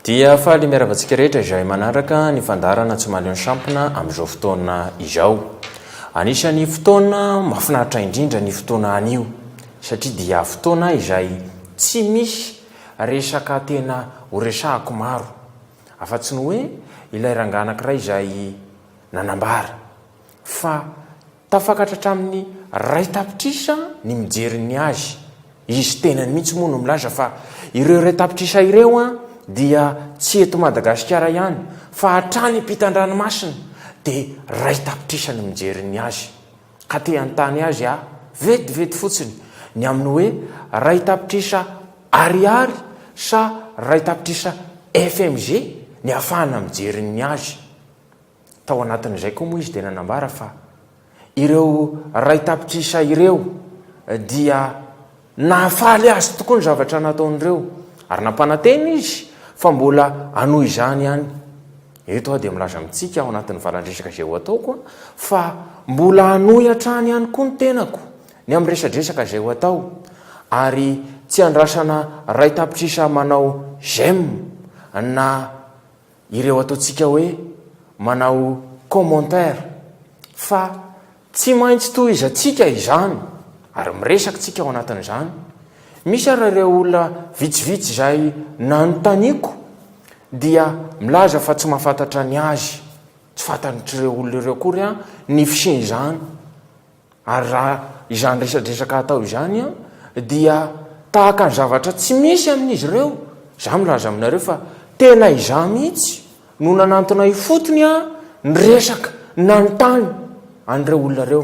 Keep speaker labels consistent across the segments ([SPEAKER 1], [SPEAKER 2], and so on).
[SPEAKER 1] dia faly miaravantsika rehetra izay manaraka ny fandarana tsy maleo ny sampina amin'izao fotoana izao anisan'ny fotoana mafinaritra indrindra ny fotoana any io satria dia fotoana izay tsy misy resaka tena horesahako maro Afa-tsy ny hoe ilay rangahy anankiray izay nanambara, fa tafakatra hatramin'ny iray tapitrisa ny mijery ny azy, izy tenany mihitsy moa no milaza fa ireo iray tapitrisa ireo dia tsy eto Madagasikara ihany fa hatrany am-pitan-dranomasina dia iray tapitrisa ny mijery ny azy. ka te hanontany azy aho vetivety fotsiny ny amin'ny hoe iray tapitrisa Ariary sa iray tapitrisa FMG ny ahafahana mijery ny azy. Tao anatin'izay koa moa izy dia nanambara fa ireo iray tapitrisa ireo dia Nahafaly azy tokoa ny zavatra nataon'ireo, ary nampanantena izy fa mbola hanohy izany ihany. Eto aho dia milaza amintsika ao anatin'ny valan-dresaka izay ho ataoko fa mbola hanohy hatrany ihany koa ny tenako ny amin'ny resadresaka izay ho atao, ary tsy andrasana iray tapitrisa manao j'aime na ireo ataontsika hoe manao commentaire fa tsy maintsy tohizantsika izany ary miresaka tsika ao anatin'izany, misy ary ireo olona vitsivitsy izay nanontaniako dia milaza fa tsy mahafantatra ny azy, tsy fantatr'ireo olona ireo akory ny fisian'izany. Ary raha izany resadresaka atao izany dia tahaka ny zavatra tsy misy amin'izy ireo, izaho milaza aminareo fa tena izaho mihitsy no nanantona ifotony ny resaka nanontany an'ireo olona ireo.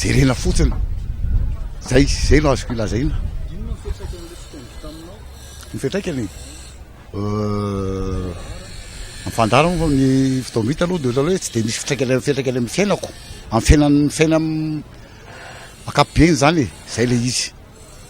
[SPEAKER 2] Jerena fotsiny. Zay, zay no azoko ilazaina. Inona ny fiantraikan'ilay fitendry taminao? Ny fiantraikany? Euh, ny fandara moa fa ny fotoam-bita aloha dia ohatrany hoe tsy dia misy fitraikany fiantraikany amin'ny fiainako, amin'ny fiainan'ny fiainam- ankapobeny zany e, zay le izy.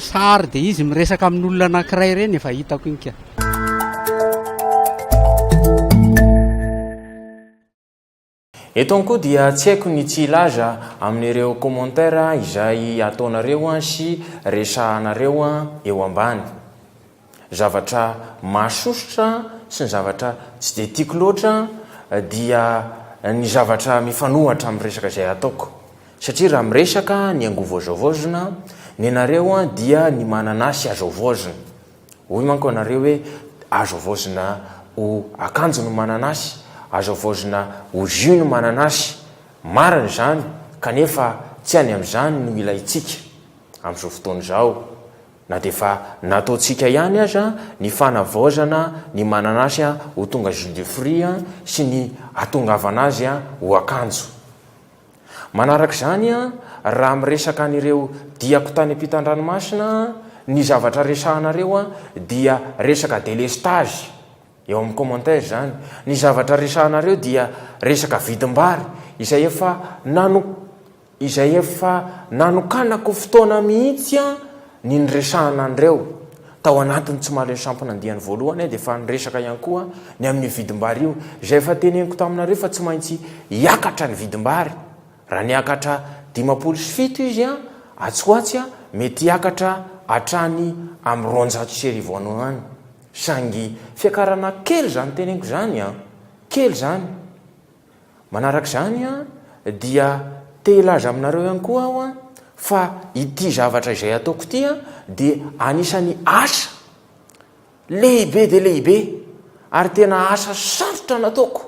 [SPEAKER 3] Sary dia izy miresaka amin'olona anankiray ireny efa hitako iny ka.
[SPEAKER 1] Eto ihany koa dia tsy haiko ny tsy hilaza amin'ireo commentaires izay ataonareo sy resahanareo eo ambany. Zavatra mahasosotra sy ny zavatra tsy dia tiako loatra dia ny zavatra mifanohatra amin'ny resaka izay ataoko. Satria raha miresaka ny angovo azo havaozina, ny anareo dia ny mananasy azo havaozina. Hoy manko ianareo hoe azo havaozina ho akanjo ny mananasy, azo havaozina ho jus ny mananasy. Marina izany kanefa tsy any amin'izany no ilaintsika amin'izao fotoana izao. Na dia efa nataontsika ihany aza ny fanavaozana ny mananasy ho tonga jus de fruits sy ny hatongavana azy ho akanjo. Manaraka izany, raha miresaka an'ireo diako tany ampitan-dranomasina, ny zavatra resahanareo dia resaka délestage, eo amin'ny commentaire izany, ny zavatra resahanareo dia resaka vidim-bary izay efa nano. izay efa nanokanako fotoana mihitsy ny niresahana an'ireo tao anatin'ny Tsy Mahaleo Sampona andiany voalohany aho dia efa niresaka ihany koa ny amin'io vidim-bary io izay efa teneniko taminareo fa tsy maintsy hiakatra ny vidim-bary raha niakatra dimampolo sy fito izy atsy ho atsy mety hiakatra hatrany amin'ny roanjato sy arivo any any saingy fiakarana kely izany teneniko izany kely izany Manaraka izany dia te hilaza aminareo ihany koa aho fa ity zavatra izay ataoko ity dia anisan'ny asa lehibe dia lehibe ary tena asa sarotra nataoko.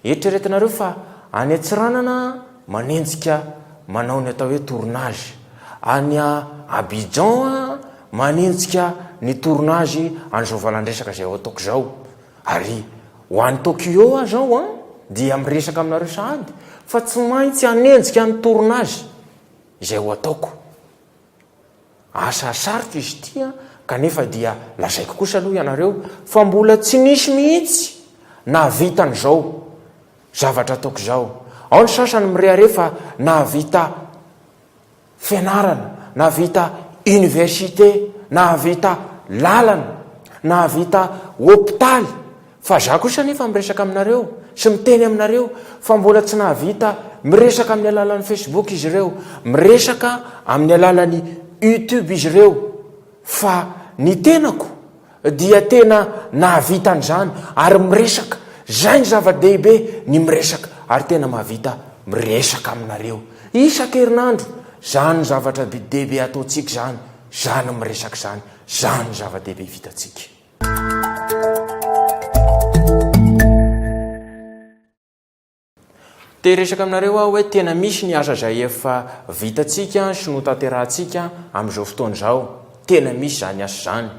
[SPEAKER 1] Eritreretinareo fa any Antsiranana manenjika manao ny atao hoe tournage, any Abidjan manenjika ny tournage an'izao valandresaka izay ataoko izao. Ary ho any Tokyo aho izao an, dia miresaka aminareo sahady fa tsy maintsy hanenjika ny tournage izay ho ataoko. Asa sarotra izy ity an, kanefa dia lazaiko kosa aloha ianareo fa mbola tsy nisy mihitsy nahavita an'izao zavatra ataoko izao. Ao ny sasany mirehareha fa nahavita. fianarana, nahavita université, nahavita lalana, nahavita hopitaly, fa za kosa anefa miresaka aminareo sy miteny aminareo fa mbola tsy nahavita miresaka amin'ny alalan'ny Facebook izy ireo, miresaka amin'ny alalan'ny YouTube izy ireo fa ny tenako Dia tena nahavita an'izany ary miresaka, izay ny zava-dehibe, ny miresaka ary tena mahavita miresaka aminareo isan-kerinandro, izany no zavatra be dia be ataontsika izany, izany ny miresaka izany, izany ny zava-dehibe vitantsika. Te hiresaka aminareo aho hoe tena misy ny asa izay efa vitantsika sy notanterahantsika amin'izao fotoana izao. Tena misy izany asa izany.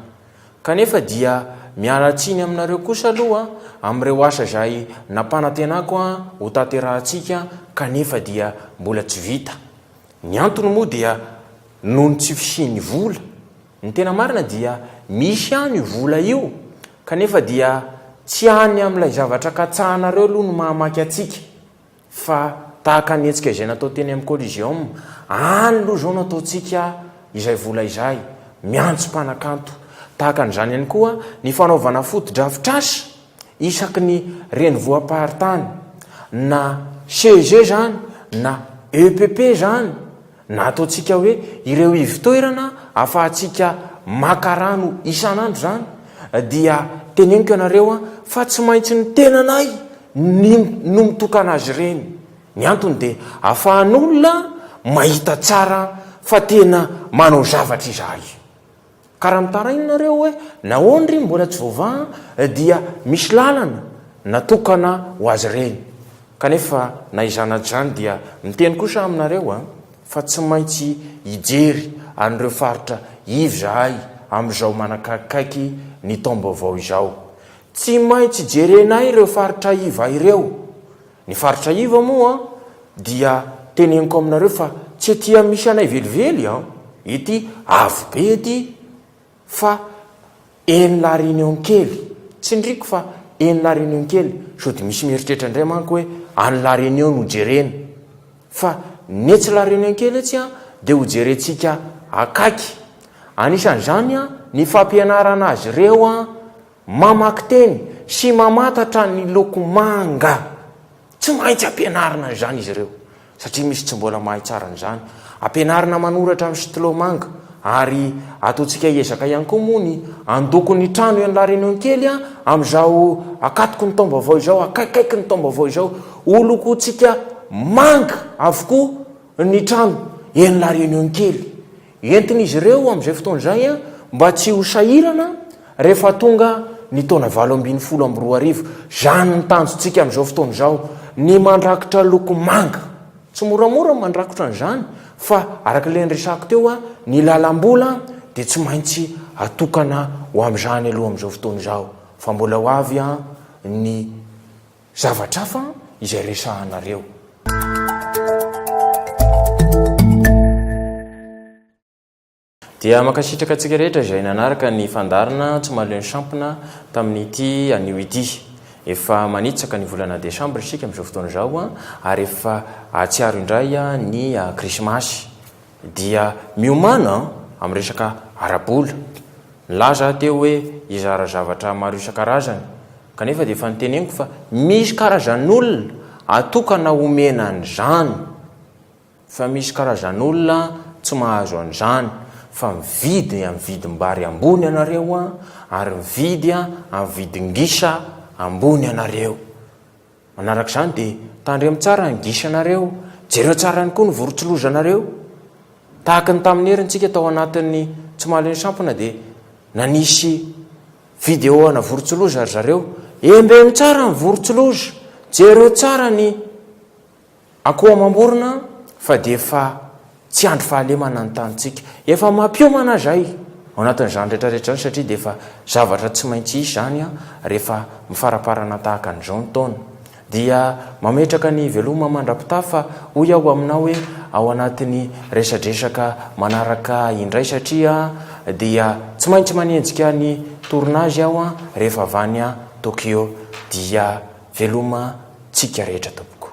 [SPEAKER 1] Kanefa dia miala tsiny aminareo kosa aloha amin'ireo asa izay nampanantenako ho tanterahantsika kanefa dia mbola tsy vita. Ny antony moa dia noho ny tsy fisian'ny vola. Ny tena marina dia misy ihany io vola io kanefa dia tsy any amin'ilay zavatra katsahanareo aloha no mahamaky antsika fa tahaka ny hetsika izay natao teny amin'ny Coliseum any aloha izao no ataontsika izay vola izay miantso mpanakanto tahaka an'izany ihany koa ny fanaovana fotodrafitrasa isaky ny renivohim-paritany na CEG izany na EPP izany Na ataontsika hoe ireo ivotoerana afahantsika maka rano isan'andro izany dia teneniko ianareo fa tsy maintsy ny tenanay no mitokana azy ireny. Ny antony dia afahan'olona mahita tsara fa tena manao zavatra izahay. Ka raha mitaraina nareo hoe nahoana ry mbola tsy voavaha dia misy lalana natokana ho azy ireny. Kanefa na izany na izany dia miteny kosa aho aminareo a, fa tsy maintsy hijery an'ireo faritra iv izahay amin'izao manakakikaiky ny taom-baovao izao. Tsy maintsy jerenay ireo faritra iv ireo. Ny faritra iva moa dia teneniko aminareo fa tsy ety amin'ny misy anay velively an! Ety avo be ety fa eny la reunion kely, tsindriako fa eny la reunion kely, sody misy mieritreritra indray manko hoe any la reunion no jerena, fa ny etsy la reunion kely etsy an dia ho jerentsika akaiky, anisan'izany an ny fampianarana azy ireo an! Mamaky teny sy mamantatra ny loko manga. Tsy maintsy ampianarina izany izy ireo, satria misy tsy mbola mahay tsara an'izany. Ampianarina manoratra amin'ny stylo manga, ary ataontsika hiezaka ihany koa moa ny handoko ny trano ian'la Réunion kely amin'izao akatoky ny taom-baovao izao, akaikikaiky ny taom-baovao izao. Holokointsika manga avokoa ny trano ian'la Réunion kely. Entin'izy ireo amin'izay fotoana izay mba tsy ho sahirana rehefa tonga ny taona valo ambin'ny folo amby roa arivo. Izany ny tanjontsika amin'izao fotoana izao, ny mandrakitra loko manga. Tsy moramora ny mandrakotra an'izany fa araka ilay niresahako teo, ny lalam-bola dia tsy maintsy atokana ho amin'izany aloha amin'izao fotoana izao fa mbola ho avy ny Zavatra hafa izay resahanareo. Dia mankasitraka antsika rehetra izay nanaraka ny fandaharana Tsy mahaleo ny sampona tamin'ity anio ity. Efa manitsaka ny volana desambra isika amin'izao fotoana izao ary efa hahatsiaro indray ny krismasy. dia miomàna amin'ny resaka ara-bola. Nilaza aho teo hoe hizara zavatra maro isan-karazany, kanefa dia efa noteneniko fa misy karazan'olona atokana omena an'izany, fa misy karazan'olona tsy mahazo an'izany, fa mividy amin'ny vidim-bary ambony ianareo ary mividy amin'ny vidin-gisa ambony ianareo. Manaraka izany dia tandremo tsara ny gisanareo, jereo tsara ihany koa ny vorontsiloza-nareo. Tahaka ny tamin'ny herintsika tao anatin'ny Tsimalin'ny Sampona dia nanisy video ana vorontsiloza ry zareo, Embeno tsara ny vorontsiloza, jereo tsara ny. Akoho amam-borona fa dia efa tsy andry fahalemana ny tanintsika. Efa mampiomana izay ao anatin'izany rehetra rehetra izany satria dia efa zavatra tsy maintsy hisy izany rehefa mifaramparana tahaka an'izao ny taona. Dia mametraka ny veloma mandra-pitaha fa hoy aho aminao hoe ao anatin'ny resadresaka manaraka indray satria dia tsy maintsy manenjika ny tournage aho rehefa avy any Tokyo dia Veloma tsika rehetra tompoko.